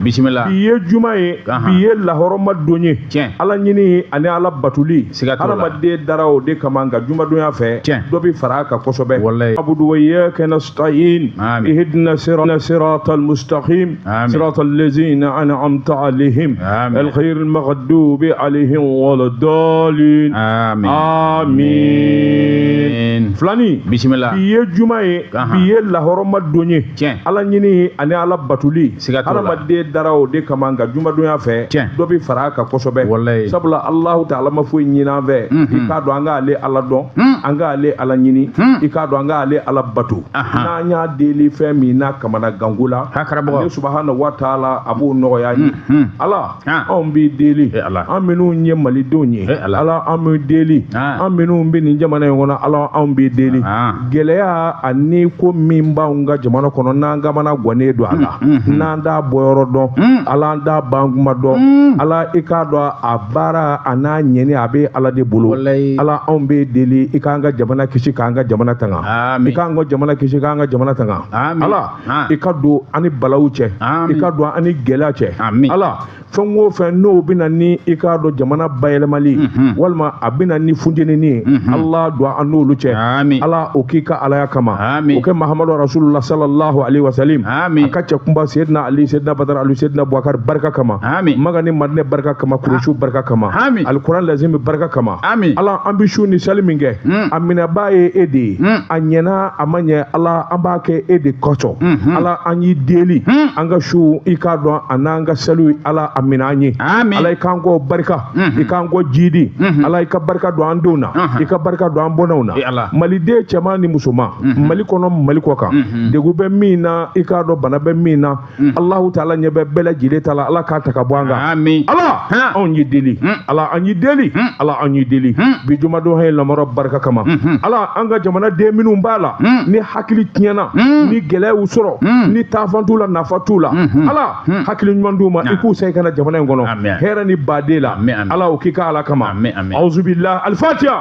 bisimila bi ye juma ye bi ye lahɔrɔma don ye tiɲɛ ala ɲini ani ala batuli hadamaden dara o de kama nka jumadonya fɛ tiɲɛ dɔ bɛ fara a kan kosɛbɛ walayi abudu wa iyyaka nasta'in ihdina sirata almustaqim sirata allazina an'amta alaihim alghayr almaghdubi alaihim waladdallin amin filani bisimila bi ye juma ye bi ye lahɔrɔma don ye tiɲɛ ala ɲini ani ala batuli hadamaden dara o de kama nka jumadonya fɛ dɔ bɛ fara a kan kosɛbɛ sabula alahu taala ma foyi ɲini an fɛ i k'a dɔn an k'ale ala dɔn an k'ale ala ɲini i k'a dɔn an k'ale ala bato n'an y'a deli fɛn min na kamanaganko la ale subahana wa taala a b'o nɔgɔya an ye ala Ah. anw b'i deli eh, an minnu ye malidenw ye eh, ala an b'i deli ah. an minnu bɛ nin jamana in kɔnɔ ala anw b'i deli ah. gɛlɛya ani ko min b'anw ka jamana kɔnɔ n'an kamana gannen don a la mm, mm, mm. n'an t'a bɔyɔrɔ dɔn ala an t'a bankuma dɔn ala i k'a dɔn a baara an'a ɲɛni a bɛ ala de bolo ala anw b'i deli i k'an ka jamana kisi k'an ka jamana tanga i k'an ka jamana kisi k'an ka jamana tanga ala i ka don an ni balaw cɛ i ka don an ni gɛlɛya cɛ ala fɛn o fɛn n'o bɛ na ni i k'a dɔn jamana bayɛlɛmali mhm. walima a bɛ na ni funteni ye mhm. ala don an n'olu cɛ ala o k'i ka alaya kama o kɛ muhamadu rasulula salalahu ale wasalam a ka cɛ kunba sedina ali sedina badara ali sedina abubakari barika kama makan ni madinɛ barika kama kurusu barika kama alikuran lazimi barika kama ala an bɛ sun ni sali min kɛ mm. a minɛbaa ye e de ye mm. a ɲɛna a ma ɲɛ ala an b'a kɛ e de kɔsɔn mhm. ala an y'i deli hmm. an ka sun i k'a dɔn an'an ka saliw ala a minɛ an ye ala i k'an ko barika mhm. i k'an ko jiidi mhm. ala i ka barika don an denw na i ka barika don an bɔnnaw na maliden cɛman ni musoman mali kɔnɔ mali kɔ kan degun bɛ min na i k'a dɔn bana bɛ min na Mm. Allahu taala ɲɛ bɛ bɛɛ lajɛlen ta la ala k'a ta ka bɔ an kan amin ala anw y'i deli mm. ala an y'i deli mm. ala an y'i deli bi jumadon hɛn lamɔrɔ barika kama mm-hmm. ala an ka jamana den minnu b'a la ni hakili tiɲɛna ni gɛlɛya y'u sɔrɔ ni taafan t'u la nafan t'u la mm-hmm. ala hakili ɲuman d'u ma i k'u segin ka na jamana in kɔnɔ hɛrɛ ni baden la ala o k'i ka ala kama auzubillah alfatiya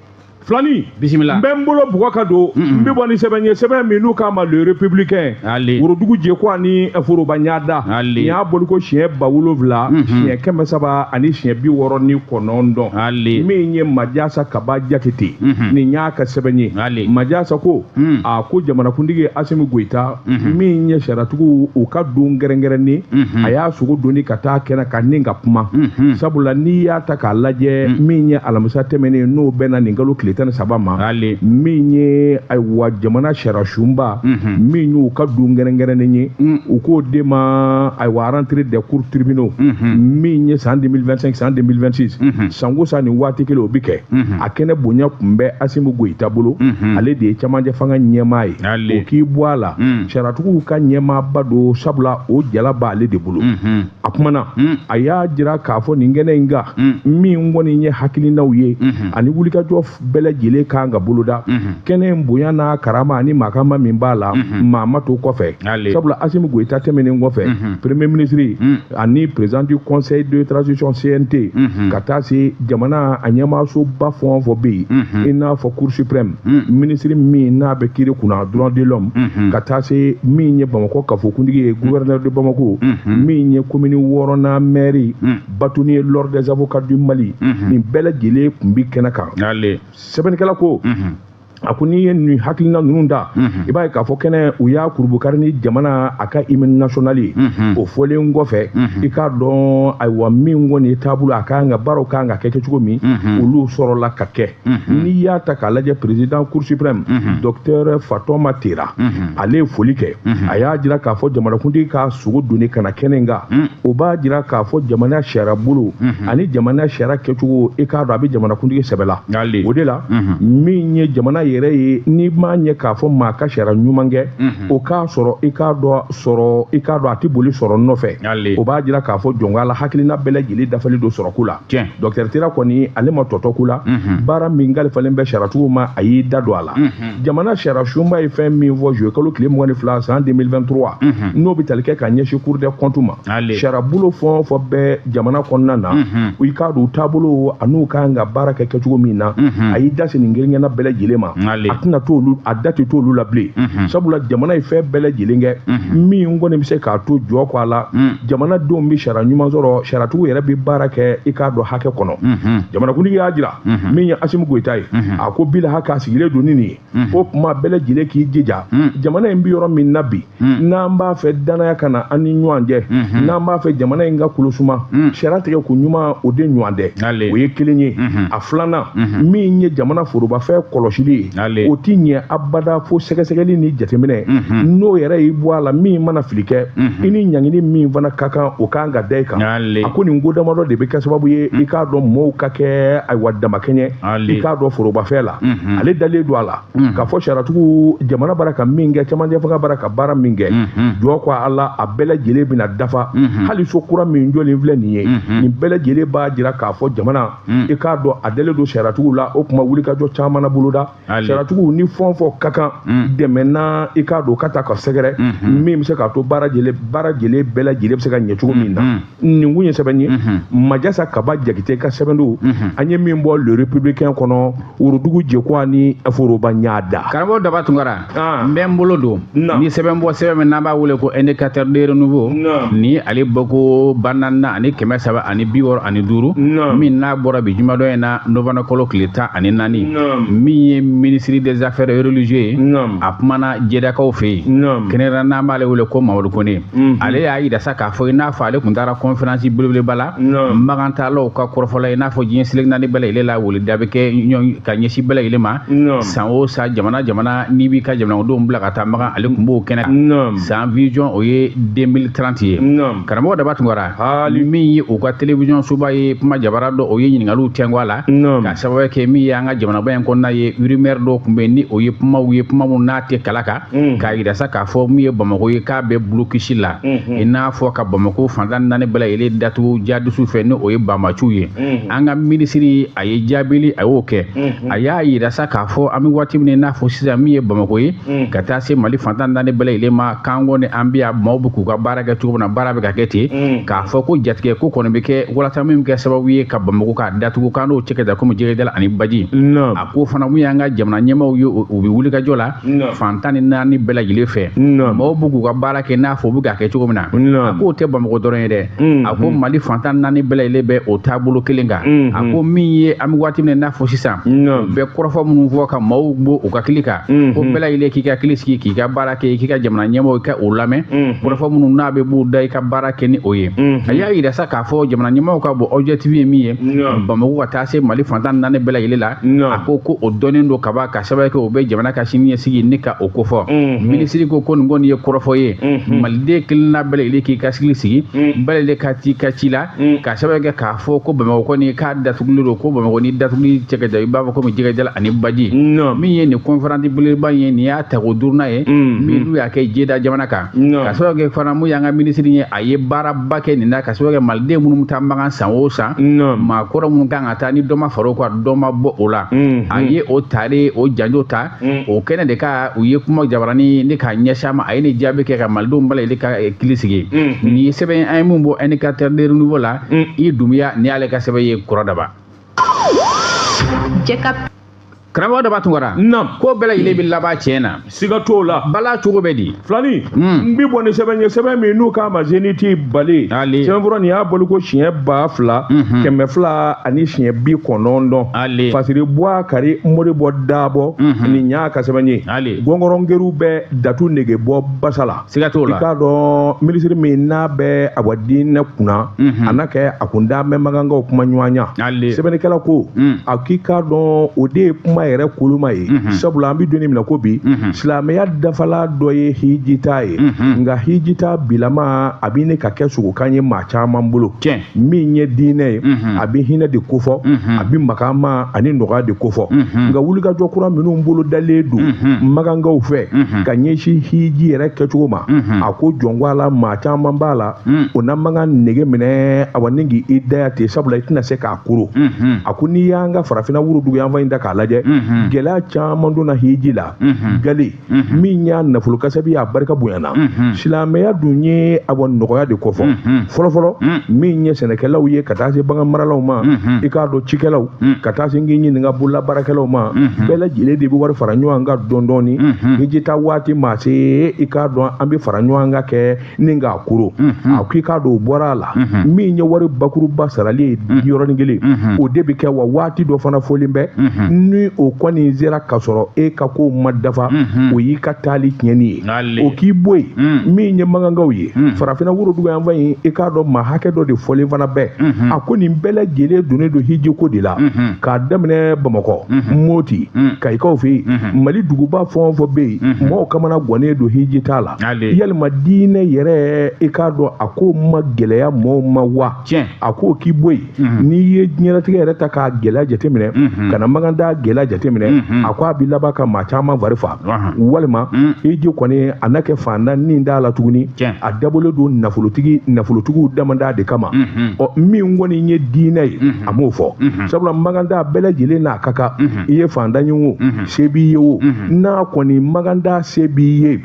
filani bisimila n bɛ n bolo bugɔ ka don n bɛ bɔ ni sɛbɛn ye sɛbɛn min n'u k'a ma le républicain worodugu jeko ani foroba ɲada nin y'a bɔliko siɲɛ ba wolonwula siɲɛ kɛmɛ saba ani siɲɛ bi wɔɔrɔ ni kɔnɔntɔn min ye majasa kaba jakite nin y'a ka sɛbɛn ye majasa ko a ko jamanakuntigi asimi goyita mhm. min ye sariyatigiw u ka don gɛrɛnkɛrɛnnen mhm. a y'a sogo doni ka taa kɛnɛ kan ni ka kuma mhm. sabula n'i y'a ta k'a lajɛ min ye alamisa tɛmɛnen n'o bɛnna nin kalo tile tan ni saba ma min ye ayiwa jamana sariyasunba min y'u ka don gɛrɛnkɛrɛnnen ye u k'o de ma ayiwa rentrée des cours tribunaux min ye san 2025 san 2026 san o san nin waati kelen o bi kɛ a kɛnɛ bonya tun bɛ asimi goyita bolo ale de ye cɛmancɛ fanga ɲɛmaa ye o k'i bɔ a la mm. sariyatigiw ka ɲɛmaaba don sabula o jala b'ale de bolo mm-hmm. a kumana mm. a y'a jira k'a fɔ nin kɛnɛ in kan mm. min kɔni ye hakilinaw ye mm-hmm. ani wulikajɔ bɛɛ lajɛlen kan ka boloda mm-hmm. kɛnɛ in bonya n'a karama ani makama min b'a la maa ma to kɔfɛ sabula asimi goyita tɛmɛnen kɔfɛ premier ministre ani président du conseil de transition CNT mhm. ka taa se jamana a ɲɛmaasoba fɛn o fɛn bɛ yen mhm. i n'a fɔ cour suprême mhm. minisiri min n'a bɛ kiiri kunna droit de l'homme ka taa se min ye bamakɔ kafokuntigi ye gouverneur de bamako min ye komini wɔɔrɔnan mɛri bâtonnier l'ordre des avocats du mali nin bɛɛ lajɛlen tun bɛ kɛnɛ kan sɛbɛnnikɛla ko a ko n'i ye nin hakilina ninnu da i b'a ye k'a fɔ kɛnɛ u y'a kurunbonkari ni jamana a ka hymne national ye o fɔlen kɔfɛ i k'a dɔn ayiwa min kɔni ye taabolo a kan ka baaraw kan ka kɛ kɛcogo min olu sɔrɔla ka kɛ n'i y'a ta k'a lajɛ président cour suprême docteur fatoma tera ale ye foli kɛ Mm-hmm. a y'a jira k'a fɔ jamanakuntigi k'a sogo doni ka na kɛnɛ in kan mm. o b'a jira k'a fɔ jamana sariya bolo mm-hmm. ani jamana sariya kɛcogo i k'a dɔn a bɛ jamanakuntigi sɛbɛ la o de la mm-hmm. min ye jamana yɛrɛ ye n'i m'a ɲɛ k'a fɔ maa ka sariya ɲuman kɛ o k'a sɔrɔ i k'a dɔn sɔrɔ i k'a dɔn a tɛ boli sɔrɔ nɔfɛ o b'a jira k'a fɔ jɔn ko ala hakilina bɛɛ lajɛlen dafalen don sɔrɔko la tiɲɛ docteur tera kɔni ale ma tɔ to ko la baara min kalifalen bɛ sariyatigiw ma a y'i da don a la jamana sariyasunba ye fɛn min fɔ juillet kalo tile mugan ni fila san 2023 n'o bɛ tali kɛ ka ɲɛsin cour des comptes ma sariyabolo fɛn o fɛn bɛ jamana kɔnɔna na i k'a dɔn u taabolo an'u ka kan ka baara kɛ kɛcogo min na a y'i da se nin kelen-kelenna bɛɛ lajɛlen ma a tɛna t'olu a da tɛ t'olu la bilen sabula jamana ye fɛn bɛɛ lajɛlen kɛ min kɔni bɛ se k'a to jɔn ko ala jamanadenw bɛ sariya ɲuman sɔrɔ sariyatigiw yɛrɛ bɛ baara kɛ i k'a dɔn hakɛ kɔnɔ jamanakuntigi y'a jira min ye asimi goyita ye a ko bi la hakɛ sigilen don ni nin ye o tuma bɛɛ lajɛlen k'i jija jamana in bɛ yɔrɔ min na bi n'an b'a fɛ danaya ka na an ni ɲɔgɔn cɛ n'an b'a fɛ jamana in ka kolosuma sariya tigɛ koɲuman o de ɲɔgɔn tɛ o ye kelen ye a filanan min ye jamana forobafɛn kɔlɔsili ye o t'i ɲɛ abada fo sɛgɛsɛgɛli ni jateminɛ n'o yɛrɛ y'i bɔ a la min mana fili kɛ i ni ɲangini min fana ka kan o kan ka da i kan a ko nin ko damadɔ de bɛ kɛ sababu ye i k'a dɔn mɔɔw ka kɛ ayiwa damakɛɲɛ i k'a dɔn forobafɛn la ale dalen don a la k'a fɔ sariyatigiw jamana bara ka min kɛ cɛmancɛ fanga bara ka baara min kɛ jɔ ko a la a bɛɛ lajɛlen bɛna dafa hali so kura min jɔlen filɛ nin ye nin bɛɛ lajɛlen b'a jira k'a fɔ jamana Hmm. i k'a dɔn a dalen don sariyatigiw la o tuma wulikajɔ caman na boloda sariyatigiw ni fɛn fɔ ka kan hmm. dɛmɛ na i k'a dɔn ka ta ka sɛgɛrɛ hmm. min bɛ se k'a to baara jɛlen baara jɛlen bɛɛ lajɛlen bɛ se ka ɲɛ cogo min na nin kun ye sɛbɛn ye majasa kaba jakite ka sɛbɛn don an ye min bɔ le républicain kɔnɔ worodugu jekuwa ni foroba ɲada karamɔgɔ daba tunkara ah. n bɛ n bolo don nin sɛbɛn bɔ sɛbɛn min n'an b'a wele ko indicateur de renouveau ni ale bɔko ba naaninan ani kɛmɛ saba ani bi wɔɔrɔ ani duuru min n'a bɔra bi jumadon in na novembre kalo tile tan ani naani min ye ministre des affaires religieuses ye a kumana jedakaw fɛ yen kɛrɛnkɛrɛnnenya n'an b'ale wele ko mamadu kone Mhm. ale y'a jira sa k'a fɔ i n'a fɔ ale tun taara kɔnferansi belebeleba la makantaalaw ka kɔrɔfɔla i n'a fɔ diɲɛ seleke naani bɛɛ lajɛlen la weleda bɛ kɛ ka ɲɛsin bɛɛ lajɛlen ma san o san jamana jamana n'i b'i ka jamanadenw bila ka taa makan ale tun b'o kɛnɛ kan san vision o ye 2030 ye karamɔgɔ daba tunkara hali min ye u ka television soba ye kuma jabara dɔ o ye ɲininkaliw tɛngu a la ka sababu kɛ min ye an ka jamanaba in kɔnɔna ye rumeur dɔ tun bɛ yen ni o ye kumaw ye kuma min n'a tɛ kala kan Mm. k'a jira sa k'a fɔ min ye bamako ye k'a bɛ blocus la mm-hmm. i n'a fɔ ka bamako fan tan ni naani bɛɛ lajɛlen datugu jadisiw fɛ ni o ye banbaanciw ye mm-hmm. an ka minisiri a ye jaabili a y'o kɛ mm-hmm. a y'a jira sa k'a fɔ an bɛ waati min i n'a fɔ sisan min ye bamako ye mm. ka taa se mali fan tan ni naani bɛɛ lajɛlen ma k'an kɔni an bɛ yan maaw bɛ k'u ka baara kɛ cogo min na baara bɛ ka kɛ ten mm. k'a fɔ ko jatigɛ ko kɔni bɛ kɛ walasa min bɛ kɛ sababu ye ka bamako k'a datugu k'an n'o cɛ ka jan komi jɛgɛ jalan ani baji a ko fana min y'an ka jamana ɲɛmaaw ye u bɛ wulikajɔ la fan tan ni naani bɛɛ lajɛlen fɛ maaw bɛ k'u ka baara kɛ n'a fɔ u bɛ k'a kɛ cogo min na a k'o tɛ bamakɔ dɔrɔn ye dɛ mm. a ko mali fan tan ni naani bɛɛ lajɛlen bɛ o taabolo kelen kan mm-hmm. a ko min ye an bɛ waati min n'a fɔ sisan bɛɛ kɔrɔfɔ minnu fɔ ka maaw bɔ u hakili kan mm-hmm. ko bɛɛ lajɛlen k'i hakili sigi k'i ka baara kɛ k'i ka jamana ɲɛmaaw i k'u lamɛn mm-hmm. kɔrɔfɔ minnu n'a bɛ b'u da i ka baara kɛ ni o ye a y'a jira sa k'a fɔ jamana ɲɛmaaw ka bɔ objectif ye min ye bamakɔ ka taa se mali fan tan ni naani bɛɛ lajɛlen la a ko ko o dɔnnen don kaban ka a sababu kɛ o bɛ jamana ka sini ɲɛsigi ne ka o kofɔ mhm. minisiri ko ko nin kɔni ye kɔrɔfɔ ye mhm. maliden kelenna bɛɛ lajɛlen k'i hakili sigi mhm. bɛɛ lajɛlen ka t'i ka ci la ka sababu kɛ k'a fɔ ko bamakɔ kɔni k'a datugulen don ko bamakɔ ni datuguli cɛ ka jan i b'a fɔ komi jɛgɛ jalan ani baji min ye nin kɔnferansi belebeleba ye nin y'a tako duurunan ye min n'u y'a kɛ jeda jamana kan ka sababu kɛ fana min y'an ka minisiri ye a ye baaraba kɛ nin na ka sababu kɛ maliden minnu bɛ taa makan san o san maakɔrɔ minnu kan ka taa ni dɔ ma fara o kan dɔ ma bɔ o la mm-hmm. a ye o tare o janjo ta mm. o kɛnɛ de kan u ye kuma jabarani ne k'a ɲɛsin a ma a ye ne jaabi kɛ ka malidenw bɛɛ lajɛlen hakili sigi mm-hmm. nin ye sɛbɛn an ye min bɔ indicateur de renouveau la mm. i dunbiya nin y'ale ka sɛbɛn ye kɔrɔ daba karamɔgɔ daba tunkara naam ko bɛɛ lajɛlen bɛ laban tiɲɛ na siga t'o la bala cogo bɛ di filani hmm. n bi bɔ ni sɛbɛn ye sɛbɛn min n'u k'a ma zeniti bale sɛbɛnfura nin y'a bɔli ko siɲɛ ba fila mhm. kɛmɛ fila ani siɲɛ bi kɔnɔntɔn fasiri buwakari modibɔ dabɔ mhm. nin y'a ka sɛbɛn ye gɔngɔrɔn kerun bɛ datu nege bɔ basa la siga t'o la i k'a dɔn minisiri min n'a bɛ a diinɛ kunna a na kɛ a kun da bɛ makankaw kuma ɲɔgɔnya sɛbɛnnikɛla ko a k'i k'a dɔn o de ye kuma yɛrɛ koloma ye sabula an bɛ don min na i ko bi silamɛya dafala dɔ ye hijita ye nka hijita bilama a bɛ ɲini ka kɛ sogokan ye maa caman bolo min ye diinɛ ye a bɛ hinɛ de kofɔ a bɛ makama ani nɔgɔya de kofɔ nka wulikajɔ kura minnu bolo dalen don makankaw fɛ ka ɲɛsin hiji yɛrɛ kɛcogo ma a ko jɔn ko Ala maa caman b'a la o na makan nege minɛ awa ni k'i daya ten sabula i tɛna se k'a kuru a ko n'i y'an ka farafinna woroduguyanfan in ta k'a lajɛ gɛlɛya caman donna hiji la gale min y'a nafolo kasabi y'a barika bonyana silamɛya dun ye awa nɔgɔya de kofɔ fɔlɔfɔlɔ min ye sɛnɛkɛlaw ye ka taa se bagan maralaw ma i k'a dɔn cikɛlaw ka taa se n k'i ɲininka bolola baarakɛlaw ma bɛɛ lajɛlen de bɛ wari fara ɲɔgɔn kan dɔɔndɔɔni hijita waati maa se i k'a dɔn an bɛ fara ɲɔgɔn kan kɛ ni n k'a kuru a ko i k'a dɔn o bɔra a la min ye wari bakuruba sarali ye yɔrɔnin kelen o de bɛ kɛ wa waati dɔ fana fɔlen bɛ ni o kɔni sera ka sɔrɔ e ka kow ma dafa o y'i ka taali tiɲɛni ye N'ale. o k'i bɔ yen min ye makankaw ye farafinna woroduguyanfan in i k'a dɔn maa hakɛ dɔ de fɔlen fana bɛ a ko nin bɛɛ lajɛlen donnen don hijiko de la k'a daminɛ bamakɔ moti kayikaw fɛ yen mali duguba fɛn o fɛn bɛ yen mɔgɔw kamana gwannen don hijita la yalima diinɛ yɛrɛ i k'a dɔn a ko ma gɛlɛya mɔgɔw ma wa a ko k'i bɔ yen mhm. n'i ye diɲɛlatigɛ yɛrɛ ta k'a gɛlɛya jateminɛ mhm. ka na makantaa gɛlɛya jateminɛ mhm. a ko a bɛ laban ka maa caman fari fa walima hiji kɔni a na kɛ fantan nin t'a la tuguni a dabɔlen don nafolotigi nafolotigiw damada de kama ɔ min kɔni ye diinɛ ye a m'o fɔ sabula makantaa bɛɛ lajɛlen n'a ka kan i ye fantan ye o se b'i ye o na kɔni makan taa se b'i ye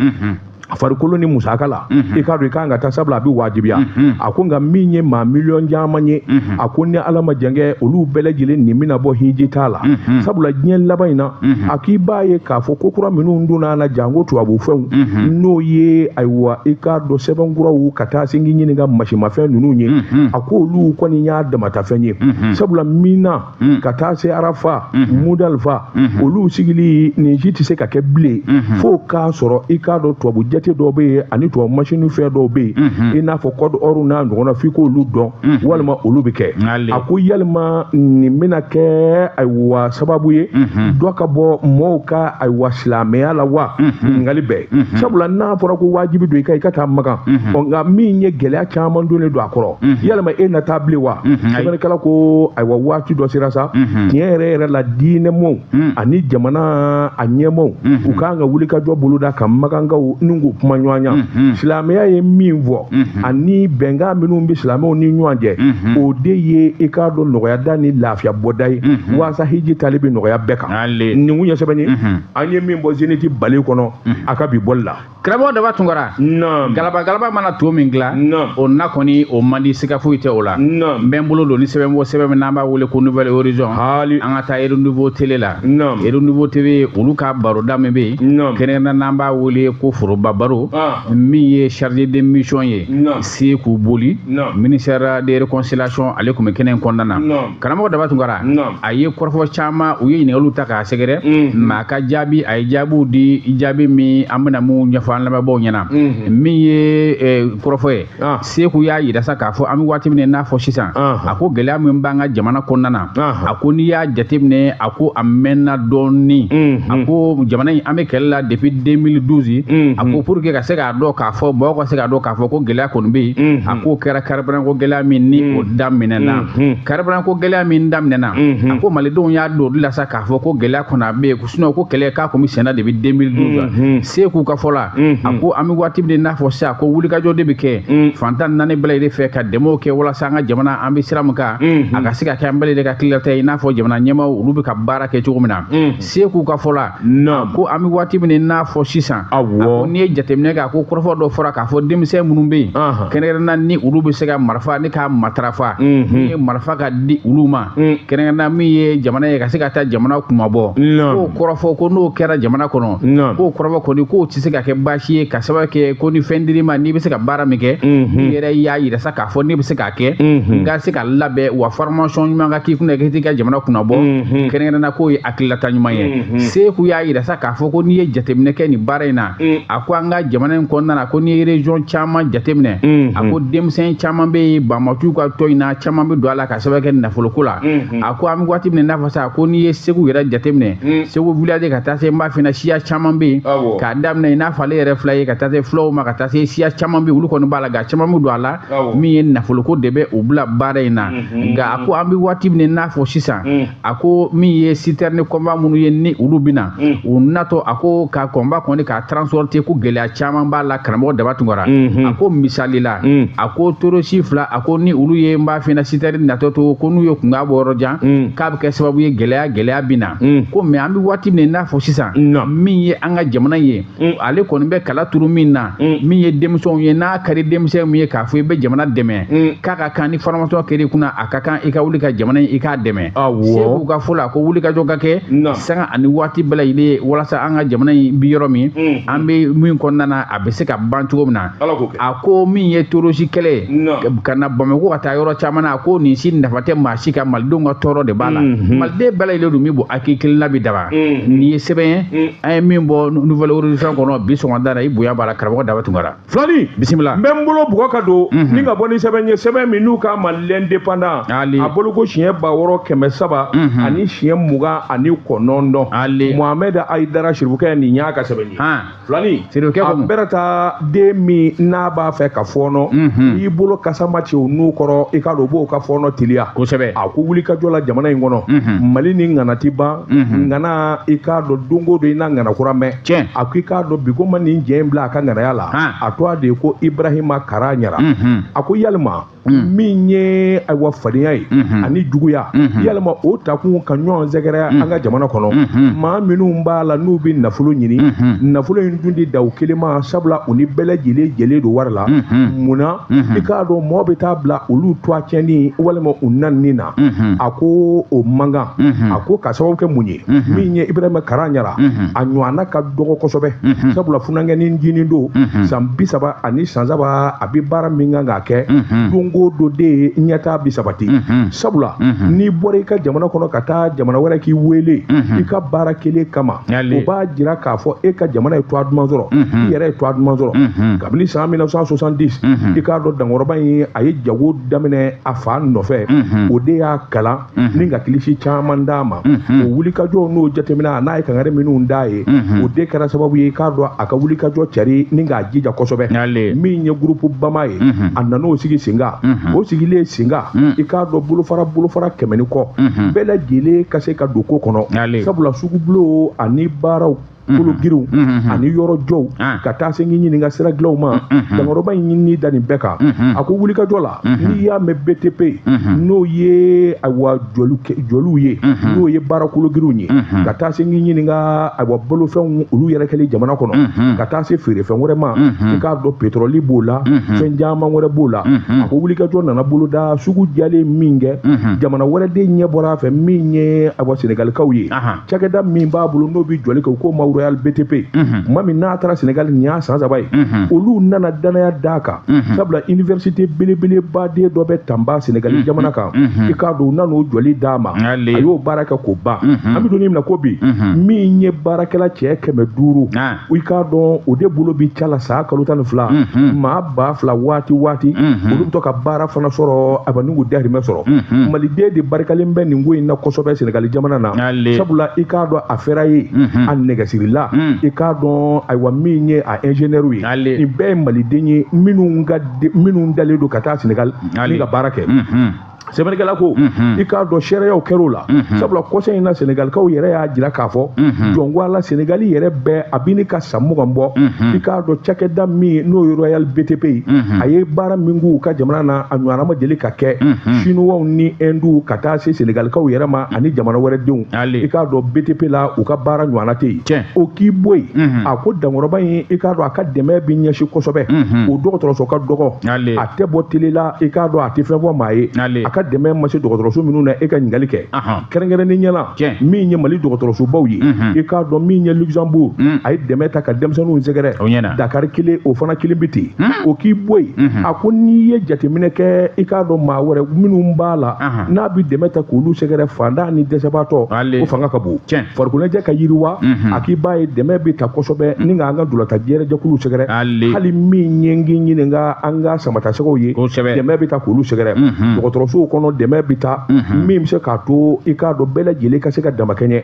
farikolo ni musaka la i k'a dɔn i kan ka taa sabula a bɛ wajibiya a ko nka min ye maa miliyɔn caman ye a ko ni ala ma jankɛ olu bɛɛ lajɛlen nin bɛna bɔ hiji taa la sabula diɲɛ laban in na a k'i b'a ye k'a fɔ ko kura minnu donna a la janko tubabu fɛnw n'o ye ayiwa i k'a dɔn sɛbɛn kuraw ka taa se k'i ɲininka masimafɛn ninnu ye a ko olu kɔni y'a damatafɛn ye sabula mina mm. ka taa se arafa mm -hmm. mudalifa mm -hmm. olu sigili nin si tɛ se ka kɛ bilen mm -hmm. fo k'a sɔrɔ i k'a dɔn tubabu jate dɔw bɛ yen ani tubabu masini fɛn dɔw bɛ yen mm -hmm. i n'a fɔ kɔdi ɔriw n'a ɲɔgɔn na f'i k'olu dɔn mm -hmm. walima olu bɛ kɛ a ko yalima nin bɛna kɛ ayiwa sababu ye mm -hmm. dɔ ka bɔ mɔɔw ka ayiwa silamɛya la wa mm -hmm. ɲininkali bɛɛ mm -hmm. sabula n'a fɔra ko wajibi don i ka i ka taa makan mm -hmm. ɔ nka min ye gɛlɛya caman donnen don a kɔrɔ yalama e na taa bilen wa sɛbɛnnikɛla ko ayiwa waati dɔ sera sa tiɲɛ yɛrɛ yɛrɛ la diinɛmɔw ani jamana a ɲɛmɔw u kan ka wulikajɔ boloda ka makankaw ni k'u kumaɲɔgɔnya silamɛya ye min fɔ ani bɛnkan minnu bɛ silamɛw ni ɲɔgɔn cɛ o de ye i k'a dɔn nɔgɔyada ni lafiya bɔda ye waasa hiji taali bɛ nɔgɔya bɛɛ kan nin kun ye sɛbɛnni an ye min bɔ zénith balé kɔnɔ a ka bi bɔli la karamɔgɔ daba tunkara galaba galaba mana to min dila o na kɔni o man di siga foyi tɛ o la n bɛ n bolo don ni sɛbɛn bɔ sɛbɛn min n'an b'a wele ko nouvel horizon hali an ka taa renouveau télé la renouveau tv olu ka baroda min bɛ yen kɛrɛnkɛrɛnnenya n'an b'a wele ko foroba baro ah. min ye chargé de mission ye seku boli ministère de réconciliation ale tun bɛ kɛnɛ in kɔnɔna na karamɔgɔ daba tunkara a ye kɔrɔfɔ caman u ye ɲininkaliw ta k'a sɛgɛrɛ ma a ka jaabi a ye jaabiw di jaabi min an bɛna min ɲɛfɔ an lamɛnbaaw ɲɛna min ye kɔrɔfɔ ye seku y'a yira sa k'a fɔ an bɛ waati min n'a fɔ sisan a ko gɛlɛya min b'an ka jamana kɔnɔna na a ko n'i y'a jateminɛ a ko a mɛnna dɔɔni a ko jamana in an bɛ kɛlɛ la depuis 2012 a ko pour que ka se k'a dɔn k'a fɔ mɔgɔw ka se k'a dɔn k'a fɔ ko gɛlɛya kɔni bɛ yen a k'o kɛra kariburanko gɛlɛya min ni o mm. daminɛna mm-hmm. kariburanko gɛlɛya min daminɛna mm-hmm. a ko malidenw y'a dɔn o de la sa k'a fɔ ko gɛlɛya kɔni a bɛ yen sinon ko kɛlɛ k'a kun bɛ senna depuis 2012 la mm-hmm. seku ka fɔ la a ko an bɛ waati min n'a fɔ sisan ko wulikajɔ de bɛ kɛ mm. fan tan naani bɛɛ lajɛlen fɛ ka dɛmɛw kɛ walasa an ka jamana an bɛ sira min kan a ka se ka kɛ an bɛɛ lajɛlen ka tilata ye i n'a fɔ jamana ɲɛmaaw olu bɛ ka baara kɛ cogo min na Seku ka fɔ la naam ko an bɛ waati min n'a fɔ sisan a ko n'i ye jateminɛ kɛ a ko kɔrɔfɔ dɔ fɔra k'a fɔ denmisɛn minnu bɛ yen kɛrɛnkɛrɛnna ni olu bɛ se ka marifa ni k'a matarafa min ye marifa ka di olu ma kɛrɛnkɛrɛnna min ye jamana ye ka se ka taa jamana kunmabɔ k'o kɔrɔfɔ ko n'o kɛra jamana kɔnɔ k'o kɔrɔfɔ kɔni k'o tɛ se ka kɛ baasi ye ka sababu kɛ ko ni fɛn dir'i ma n'i bɛ se ka baara min kɛ i yɛrɛ y'a jira sa k'a fɔ ne bɛ se ka kɛ n ka se ka labɛn wa formation ɲuman ka k'i kunna k'i ka jamana kunnabɔ kɛrɛnkɛrɛnna k'o ye hakililata ɲuman ye seku y'a yira sa k'a fɔ ko n'i ye jateminɛ kɛ nin baara in na a ko an ka jamana in kɔnɔna na ko n'i ye region caman jateminɛ a ko denmisɛn caman bɛ yen banbaanciw ka tɔn in na caman bɛ don a la ka sababu kɛ nafoloko la a ko an bɛ waati min n'a fɔ sa ko n'i ye segu yɛrɛ jateminɛ segu village ka taa se n b'a f'i ɲɛna siya caman bɛ yen k'a daminɛ i n'a fɔ ale yɛrɛ fila ye ka taa se fulaw ma ka taa se siya caman bɛ yen olu kɔni b'a la nka caman bɛ don a la min ye nafoloko de bɛ u bila baara in na mhm. nka a ko an bɛ waati min n'a fɔ sisan mhm. a ko min ye citerne convoi minnu ye ni olu bɛ na mhm. u natɔ a ko ka convoi kɔni k'a transporter ko gɛlɛya caman b'a la karamɔgɔ daba tunkara a ko misali la a ko torosi fila a ko ni olu ye n b'a f'i ɲɛna citerne natɔ to ko n'u ye kunkan bɔ yɔrɔ jan k'a bɛ kɛ sababu ye gɛlɛya gɛlɛya bɛ na ko mais an bɛ waati min n'a fɔ sisan min ye an ka jamana ye mm. ale kɔni bɛ kala turu min na mm. min ye denmisɛnw ye n'a ka di denmisɛn min ye k'a fɔ i bɛ jamana dɛmɛ mm. k'a ka kan ni formation kɛra i kunna a ka kan i ka wuli ka jamana in i k'a dɛmɛ seku ka fɔ la ko wuli ka jɔ ka kɛ sanga ani waati bɛɛ lajɛlen ye walasa an ka jamana in bi yɔrɔ min an bɛ min kɔnɔna na a bɛ se ka ban cogo min na a ko min ye torosi kɛlɛ ka na bamakɔ ka taa yɔrɔ caman na a ko nin si nafa tɛ maa si ka malidenw ka tɔɔrɔ de b'a la mm-hmm. maliden bɛɛ lajɛlen dun bɛ bɔ hakili kelen na bi daba mm-hmm. nin ye sɛbɛn ye mm-hmm. an ye min bɔ nouvel horizon kɔnɔ bi sɔgɔmada la i bonya b'a la karamɔgɔ daba tunkara filani bisimila n bɛ n bolo bugɔ ka don mhm. ni ka bɔ ni sɛbɛn ye sɛbɛn min n'u k'a ma l'indépendant a bɔli ko siɲɛ ba wɔɔrɔ kɛmɛ saba mhm. ani siɲɛ mugan ani kɔnɔntɔn mohamɛd ayidara siribukɛ nin y'a ka sɛbɛn ye filani a bɛrɛ taa den min n'a b'a fɛ ka fɔɔnɔ mhm. n'i bolo kasama ci o nun kɔrɔ i k'a dɔn o b'o ka fɔɔnɔ teliya kosɛbɛ a ko wulikajɔ la jamana in kɔnɔ mali ni ŋana ti ban ŋana i k'a dɔn don o don i na ŋana kura mɛn a ko i k'a dɔn bi ko ma nin cɛ in bila a ka ŋanaya la a tɔgɔ de ye ko ibrahima karaɲara a ko yalima min ye ayiwa fadenya ye ani juguya yalima o takun ka ɲɔgɔn sɛgɛrɛ an ka jamana kɔnɔ maa minnu b'a la n'u bɛ nafolo ɲini nafolo in dun ti dan u kelen ma sabula u ni bɛɛ lajɛlen jɛlen don wari la munna i k'a dɔn mɔgɔ bɛ taa bila olu tɔgɔ tiɲɛni walima u nenini na a ko o man kan a ko ka sababu kɛ mun ye min ye Ibrahima Karaɲara a ɲɔgɔnna ka dɔgɔ kosɛbɛ sabula funankɛni ncinin don san bi saba ani san saba a bɛ baara min kan k'a kɛ don o don de ɲɛtaa bi sabati sabula n'i bɔra i ka jamana kɔnɔ ka taa jamana wɛrɛ k'i wele i ka baara kelen kama o b'a jira k'a fɔ e ka jamana ye tɔɔ duman sɔrɔ i yɛrɛ ye tɔɔ duman sɔrɔ kabini san 1970 i k'a dɔn dankɔrɔba in a ye jago daminɛ a fa nɔfɛ o de y'a kalan ni ka kilisi caman d'a ma o wulikajɔ n'o jateminɛ a n'a ye kangari minnu d'a ye o de kɛra sababu ye i k'a dɔn a ka wulikajɔ cari ni k'a jija kosɛbɛ min ye gurupu bama ye a nan'o sigi sen kan o sigilen sen kan i k'a dɔn bolofara bolofara kɛmɛ ni kɔ bɛɛ lajɛlen ka se ka don ko kɔnɔ sabula sugubulo ani baara kologiriw ani yɔrɔ jɔw ka taa se k'i ɲininka sira dilaw ma dankɔrɔba in ɲinini da nin bɛɛ kan a ko wulikajɔ la n'i y'a mɛn btp n'o ye ayiwa jɔliw ye n'o ye baara kologiriw ye ka taa se k'i ɲininka ayiwa bolofɛnw olu yɛrɛ kɛlen jamana kɔnɔ ka taa se feerefɛn wɛrɛ ma i k'a dɔn petroli b'o la fɛn caman wɛrɛ b'o la a ko wulikajɔ nana boloda sugu jɛlen min kɛ jamana wɛrɛ den ɲɛ bɔra a fɛ min ye ayiwa sɛnɛgalikaw ye cakɛda min b'a bolo n'o bɛ jɔli kɛ u k'o ma royal btp tuma min n'a taara sɛnɛgali nin y'a san saba ye olu nana danaya d'a kan sabula iniversite belebeleba dɔ bɛ tanba sɛnɛgali jamana kan i k'a dɔn u nan'o jɔli d'a ma a y'o baara kɛ k'o ban an bɛ don min na ko bi min ye baarakɛla cɛ kɛmɛ duuru i k'a dɔn o de bolo bɛ ca la san kalo tan ni fila mhm. maa ba fila waati waati mhm. olu bɛ to ka baara fana sɔrɔ ayiwa ni k'u dahirimɛ sɔrɔ mhm. maliden de barikalen bɛ nin ko in na kosɛbɛ sɛnɛgali jamana na sabula i k'a dɔn a ferrailleur a nɛgɛsirila i k'a dɔn ayiwa min ye a ingénieur ye nin bɛɛ ye maliden ye minnu talen don ka taa sɛnɛgali ni ka baara kɛ sɛbɛnnikɛla ko i k'a dɔn seereyaw kɛr'o la sabula kɔsɛn in na senegalikaw yɛrɛ y'a jira k'a fɔ jɔn ko ala senegali yɛrɛ bɛɛ a bɛ ɲini ka san mugan bɔ i k'a dɔn cakɛda min n'o ye royal btp ye a ye baara min k'u ka jamana na a ɲɔgɔnna ma deli ka kɛ sinuwaw ni ɛnduw ka taa se senegalikaw yɛrɛ ma ani jamana wɛrɛ denw i k'a dɔn btp la u ka baara ɲɔgɔnna tɛ yen o k'i bɔ yen a ko dankɔrɔba in i k'a dɔn a ka dɛmɛ bɛ ɲɛsin kosɛbɛ o dɔgɔtɔrɔso ka dɔgɔ a tɛ bɔ tele la i k'a dɔn a tɛ fɛn fɔ maa ye a ka dɛmɛ ma se dɔgɔtɔrɔso minnu na e ka ɲininkali kɛ kɛrɛnkɛrɛnnenya la min ye mali dɔgɔtɔrɔsobaw ye i k'a dɔn min ye luxembourg a ye dɛmɛ ta ka denmisɛnninw sɛgɛrɛ dakari kelen o fana kelen bɛ ten o k'i bɔ yen a ko n'i ye jateminɛ kɛ i k'a dɔn maa wɛrɛ minnu b'a la n'a bɛ dɛmɛ ta k'olu sɛgɛrɛ fantan ni dɛsɛbaatɔ o fanga ka bon farikoloɲɛnajɛ ka yiriwa mhm. a k'i b'a ye dɛmɛ bɛ ta kosɛbɛ mhm. ni ka an ka ntolatan jɛrɛ jɛkulu sɛgɛrɛ hali min ye n k'i ɲininka an ka samatasɛgɛw ye dɛmɛ bɛ ta k'olu sɛgɛrɛ mhm. dɔgɔtɔrɔsow kɔnɔ dɛmɛ bɛ ta min bɛ se k'a to i k'a dɔn bɛɛ lajɛlen ka se ka damakɛɲɛ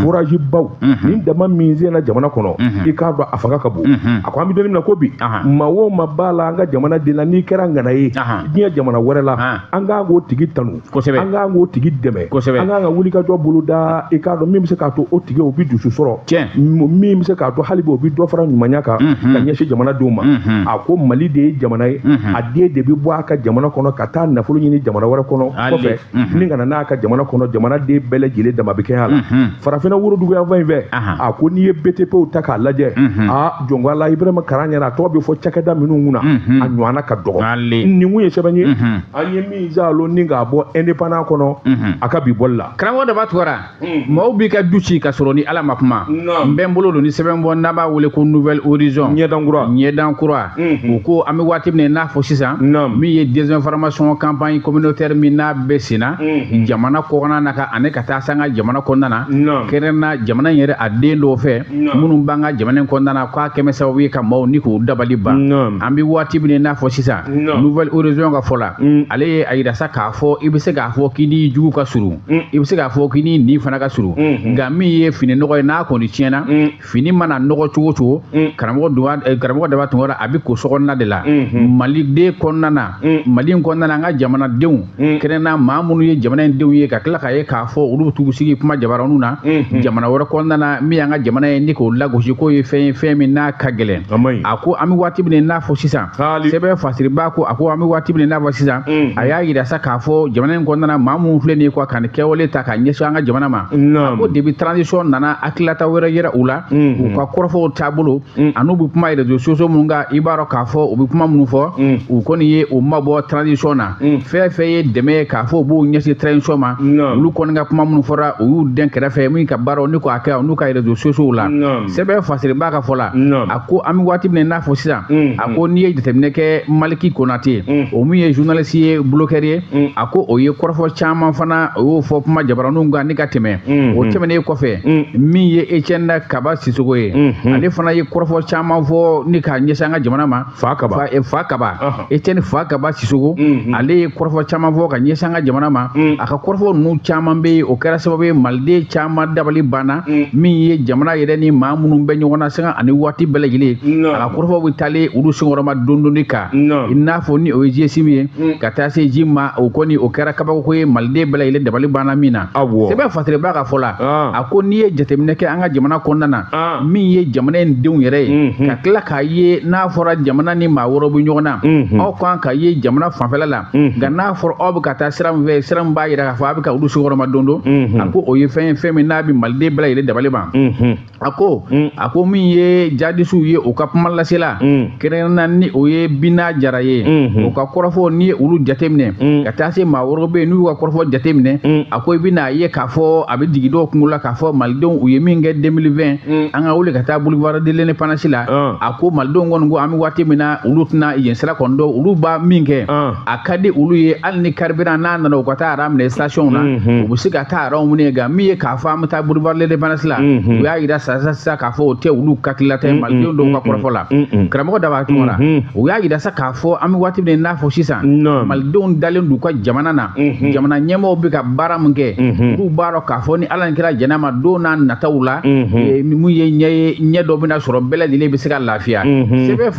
forazi baw ni dama min senna jamana kɔnɔ i k'a dɔn a fanga ka bon a ko an bɛ don min na ko bi maa o maa b'a la an ka jamana den la n'i kɛra ŋana ye diɲɛ jamana wɛrɛ la an ka kan k'o tigi tanu kosɛbɛ an k'an k'o tigi dɛmɛ kosɛbɛ an k'an ka wuli ka jɔ bolo da i k'a dɔn min bɛ se k'a to o tigi o bɛ dusu sɔrɔ tiɲɛ min bɛ se k'a to hali bi o bɛ dɔ fara ɲumanya kan ka ɲɛsin jamana denw ma a ko mali de ye jamana ye a den de bɛ bɔ a ka jamana kɔnɔ ka taa nafolo ɲini jamana wɛrɛ kɔnɔ kɔfɛ ni ka na n'a ka jamana kɔnɔ jamana den bɛɛ lajɛlen dama bɛ kɛ a la farafinna woroduguyanfan in fɛ a ko n'i ye btpw ta k'a lajɛ aa jɔnko Ala Ibrahima Karaɲara a tɔgɔ bɛ fɔ cakɛda minnu kunna a ɲɔgɔnna ka dɔgɔ nin kun ye sɛbɛn ye an ye min zalo ni k'a bɔ indépendant kɔnɔ mhm. a ka bi bɔli la karamɔgɔ Daba Tunkara mhm. maaw b'i ka du ci ka sɔrɔ ni ala ma kuma n bɛ n bolo don ni sɛbɛn bɔ n'a b'a wele ko nouvel horizon ɲɛdan kura ɲɛdan kura mhm. u ko an bɛ waati min n'a fɔ sisan min ye désinformation campagne communautaire min n'a bɛ sen na jamana kɔkɔna na ka ani ka taa s'an ka jamana kɔnɔna na kɛrɛnna jamana in yɛrɛ a den dɔw fɛ minnu b'an ka jamana in kɔnɔna na k'a kɛmɛ sababu ye ka maaw ni k'u dabali ban an bɛ waati min n'a fɔ sisan nouvel horizon ka fɔ la mm. ale ye a yira sa k'a fɔ i bɛ se k'a fɔ k'i ni jugu ka surun mm. i bɛ se k'a fɔ k'i ni nin fana ka surun mm-hmm. nka min ye fini nɔgɔ ye n'a kɔni tiɲɛna mm. fini mana nɔgɔ cogo o cogo karamɔgɔ eh, karamɔgɔ Daba Tunkara a bɛ ko sokɔnɔna de la mm-hmm. maliden kɔnɔna na mali kɔnɔna an ka jamanadenw mm. kɛrɛnna maa minnu ye jamana in denw ye ka tila k'a ye k'a fɔ olu bɛ t'u sigi kuma jabaraninw na mm-hmm. jamana wɛrɛ kɔnɔna na min y'an ka jamana ye ni k'o lagosi k'o ye fɛn ye fɛn min n'a ka gɛlɛn a ko an bɛ waati min n'a fɔ sisan sɛbɛn fasiribaa ko a ko an bɛ waati min n'a fɔ sisan mm-hmm. a y'a yira sa k'a fɔ jamana in kɔnɔna na maa minnu filɛ nin ye quoi ka nin kɛwale ta ka ɲɛsin an ka jamana ma a ko depuis transition nana hakililata wɛrɛ yɛrɛ u la mm-hmm. u ka kɔrɔfɔw taabolo mm. an'u bɛ kuma réseaux sociaux minnu kan i b'a dɔn k'a fɔ u bɛ kuma minnu fɔ mm. u kɔni ye u mabɔ transition na mm. fɛn fɛn ye dɛmɛ ye k'a fɔ u b'u ɲɛsin transition ma olu kɔni ka kuma minnu fɔra u y'u dɛn kɛrɛfɛ min ka baaraw ni k'a kɛ n'u ka réseaux sociaux la sɛbɛn fasiribaa ka fɔ la a ko an bɛ waati min na i n'a fɔ sisan a ko n'i ye jateminɛ kɛ Maliki Konate o min ye journaliste ye blogueur ye a ko o ye kɔrɔfɔ caman fana o y'o fɔ kuma jabaraninw kan ni ka tɛmɛ o tɛmɛnen kɔfɛ min ye Etienne kaba Sisoko ye mhm. ale fana ye kɔrɔfɔ caman fɔ ni k'a ɲɛsin an ka jamana ma Fakaba fa eh, kaba Etienne Fakaba Sisoko mhm. ale ye kɔrɔfɔ caman fɔ ka ɲɛsin an ka jamana ma mhm. a ka kɔrɔfɔ ninnu caman bɛ yen o kɛra sababu ye maliden caman dabali banna min ye jamana yɛrɛ ni maa minnu bɛ ɲɔgɔn na sanga ani waati bɛɛ lajɛlen a ka kɔrɔfɔ bɛ taalen olu senkɔrɔma don donni kan i n'a fɔ ni o ye GSIM ye ka taa se ji ma o kɔni o kɛra kabako ye maliden bɛɛ lajɛlen dabali banna min na Awɔ. Sɛbɛn fasiribaa ka fɔ la, Ɔn. a ko n'i ye jateminɛ kɛ an ka jamana kɔnɔna na, Ɔn. min ye jamana in denw yɛrɛ ye, Unhun. ka tila k'a ye n'a fɔra jamana ni maa wɛrɛw bɛ ɲɔgɔn na, Unhun. aw kan ka ye jamana fanfɛla la, Unhun. nka n'a fɔra aw bɛ ka taa sira min fɛ, sira min b'a yira k'a fɔ aw bɛ ka olu senkɔrɔma don don, Unhun. a ko o ye fɛn ye fɛn min n'a bɛ Maliden bɛɛ lajɛlen dabali ban. Unhun. a ko mm. a ko min ye jadisiw ye u ka kuma lasela mm. kɛrɛnkɛrɛnna ni o ye bina jara ye mm -hmm. u ka kɔrɔfɔ n'i ye olu jateminɛ mm. ka taa se maa wɛrɛw bɛ yen n'u ka kɔrɔfɔ jateminɛ mm. a ko i bɛna ye k'a fɔ a bɛ jigin dɔw kunkolo la k'a fɔ malidenw u ye min kɛ 2020 mm. an ka wuli ka taa boulevard de l'indépendance la uh. a ko malidenw kɔni ko an bɛ waati min na olu tɛna yen sira kɔni dɔn olu b'a min kɛ uh. a ka di olu ye hali ni carburant n'a nana u ka taa ara minɛ station na u bɛ se ka taa araw minɛ nka min ye k'a fɔ an bɛ taa boulevard l'indépendance la u y'a jira sisan sisan k'a fɔ o tɛ olu hakilila tɛ malidenw dɔw ka kɔrɔfɔ la karamɔgɔ daba tunkara u y'a jira sa k'a fɔ an bɛ waati min n'a fɔ sisan malidenw dalen d'u ka jamana na jamana ɲɛmɔgɔw bɛ ka baara min kɛ olu b'a dɔn k'a fɔ ni ala ni kira jɛnn'a ma don n'a nataw la min ye ɲɛ ye ɲɛ dɔ bɛna sɔrɔ bɛɛ lajɛlen bɛ se ka lafiya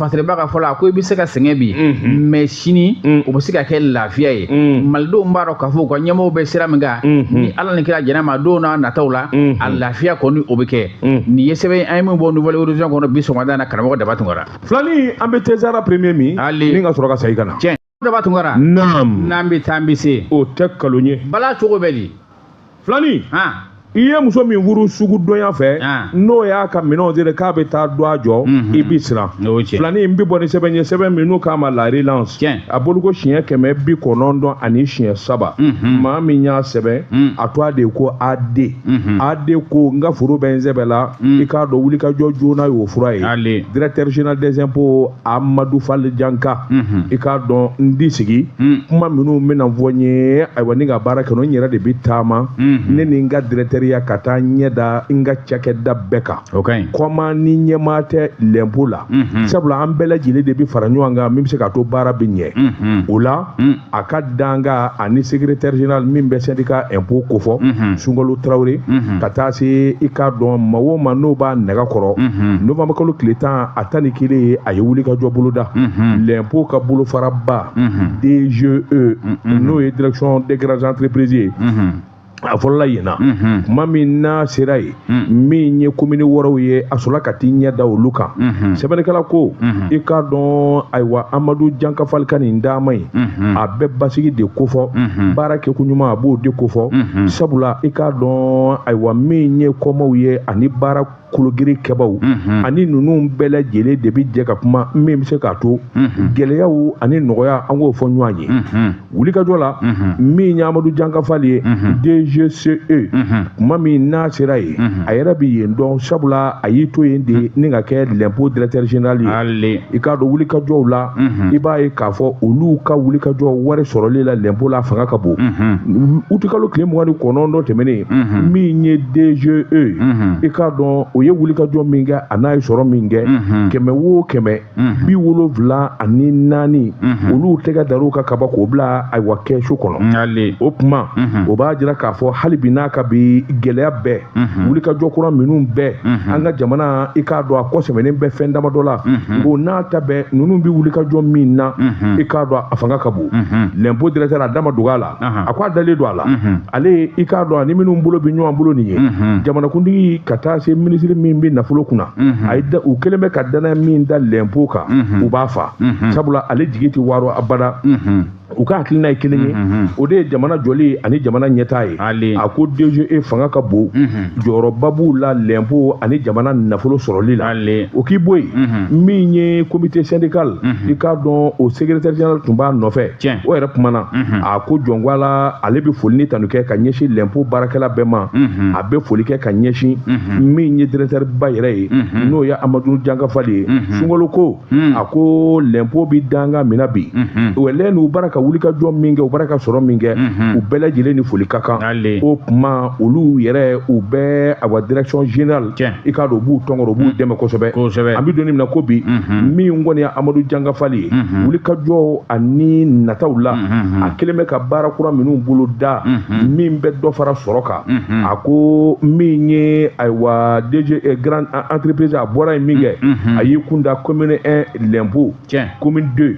Masiriba ka fɔ la, a ko i bɛ se ka sɛgɛn bi, unhun, mais sini, un, o bɛ se ka kɛ lafiya ye, un, Malidenw b'a dɔn k'a fɔ u ka ɲɛmɔgɔw bɛ sira min kan, unhun, ni Ala ni kira jɛnn'a ma don n'a nataw la, unhun, a lafiya kɔni o bɛ kɛ, un, nin ye sɛbɛn an ye min bɔ Nouvel Horizon kɔnɔ bi sɔgɔmada in na karamɔgɔ Daba Tunkara. Filani an bɛ Cesar premier min, Ali, ni ka sɔrɔ ka segin ka na. Tiɲɛ. daba tunkara naam n'an bɛ taa an bɛ se o tɛ kalon ye bala cogo bɛ di filani i ye muso min furu sugu dɔnya fɛ n'o y'a ka minɛnw siri k'a bɛ taa dɔgɔ jɔ mhm. i bɛ siran filani n bɛ bɔ ni sɛbɛn ye sɛbɛn min n'u k'a ma la relance a bolo ko siɲɛ kɛmɛ bi kɔnɔntɔn ani siɲɛ saba mhm. maa min y'a sɛbɛn mhm. a tɔgɔ de ko AD AD ko n ka foro bɛ n sɛbɛn la i k'a dɔn wulikajɔ joona y'o fura ye directeur général des impôts amadu fali janka i k'a dɔn n tɛ sigi kuma minnu bɛna fɔ n ye ayiwa ni ka baara kɛ n yɛrɛ de bɛ taama ne ni n ka dɛrɛtɛriya ka taa ɲɛ da n ka cakɛda bɛɛ kan kɔma ni ɲɛmaa tɛ l'impôt la sabula an bɛɛ lajɛlen de bɛ fara ɲɔgɔn kan min bɛ se k'a to baara bɛ ɲɛ o la a ka dankan ani secrétaire général min bɛ syndicat impôt kofɔ mhm. sunkalo tarawele mhm. ka taa se i k'a dɔn maa o maa n'o b'a nɛgɛ kɔrɔ mhm. novembre kalo tile tan a tan ni kelen ye a ye wulikajɔ boloda l'impôt ka bolofaraba DGE n'o ye direction des grandes entreprises ye a fɔlɔla yen na kuma min n'a sera yen min ye komini wɔɔrɔw ye a sɔrɔla ka t'i ɲɛ da olu kan sɛbɛnnikɛla ko i k'a dɔn ayiwa amadu janka fali ka nin taama ye a bɛ basigi de kofɔ baara kɛko ɲuman a b'o de kofɔ sabula i k'a dɔn ayiwa min ye kɔmaw ye ani baara kologirin kɛbaw ani ninnu bɛɛ lajɛlen de bɛ jɛ ka kuma min bɛ se k'a to gɛlɛyaw ani nɔgɔya an k'o fɔ ɲɔgɔn ye wulikajɔ la min ye amadu janka fali ye dgce kuma min n'a sera yen a yɛrɛ bɛ yen dɔn sabula a y'i to yen de ni ka kɛ l'impôt directeur général ye i k'a dɔn wulikajɔw la i b'a ye k'a fɔ olu ka wulikajɔ wari sɔrɔli la l'impôt la fanga ka bon utikalo tile mugan ni kɔnɔntɔn tɛmɛnen min ye DGE mhm. i k'a dɔn o ye wulikajɔ min kɛ a n'a ye sɔrɔ min kɛ mhm. kɛmɛ wo kɛmɛ mhm. bi wolonwula ani naani olu tɛgɛ dar'u kan ka ban k'o bila ayiwa kɛsu kɔnɔ o kuma o b'a jira k'a fɔ hali bi n'a ka bi gɛlɛya bɛɛ wulikajɔ kura minnu bɛ an ka jamana i k'a dɔn a kɔ sɛmɛnen bɛ fɛn damadɔ la o n'a ta bɛɛ ninnu bɛ wulikajɔ min na i k'a dɔn a fanga ka bon lɛnpo dɛrɛtɛri a da ma dog'a la a ko a dalen don a la ale i k'a dɔn ani minnu bolo bɛ ɲɔgɔn bolo nin ye jamanakuntigi ka taa se minisiri min bɛ nafolo kunna a u kɛlen bɛ ka dannaya min da lɛnpo kan u b'a fa sabula ale jigi tɛ waro abada u ka hakilina ye kelen ye o de ye jamana jɔli ani jamana ɲɛtaa ye a ko DGE fanga ka bon jɔyɔrɔba b'u la lɛnpo ani jamana nafolo sɔrɔli la o k'i bɔ yen min ye komite sɛndikali i k'a dɔn o sekeretɛri zenerali tun b'a nɔfɛ Tiɲɛ. o yɛrɛ kumana a ko jɔn ko Ala ale bɛ foli ni tanu kɛ ka ɲɛsin lɛnpo baarakɛla bɛɛ ma a bɛ foli kɛ ka ɲɛsin min ye dɛrɛtɛriba yɛrɛ ye n'o ye amadu janka fali ye sungalo ko a ko lɛnpo bɛ dankan min na bi o lɛn n'u bara ka wulikajɔ min kɛ u bara ka sɔrɔ min kɛ u bɛɛ lajɛlen ni foli ka kan Ale. o kuma olu yɛrɛ u bɛɛ awa direction générale i k'a dɔn u b'u tɔnkɔrɔ u b'u mm. dɛmɛ kosɛbɛ an bɛ don min na ko bi mm-hmm. min kɔni ye amadu janka fali ye mm-hmm. wulikajɔ ani nataw la mm-hmm. a kɛlen bɛ ka baara kura minnu boloda min bɛ dɔ fara sɔrɔ kan a ko min ye ayiwa DGE grande entreprise a bɔra yen min kɛ a y'i kun da commune 1 lɛnpo commune 2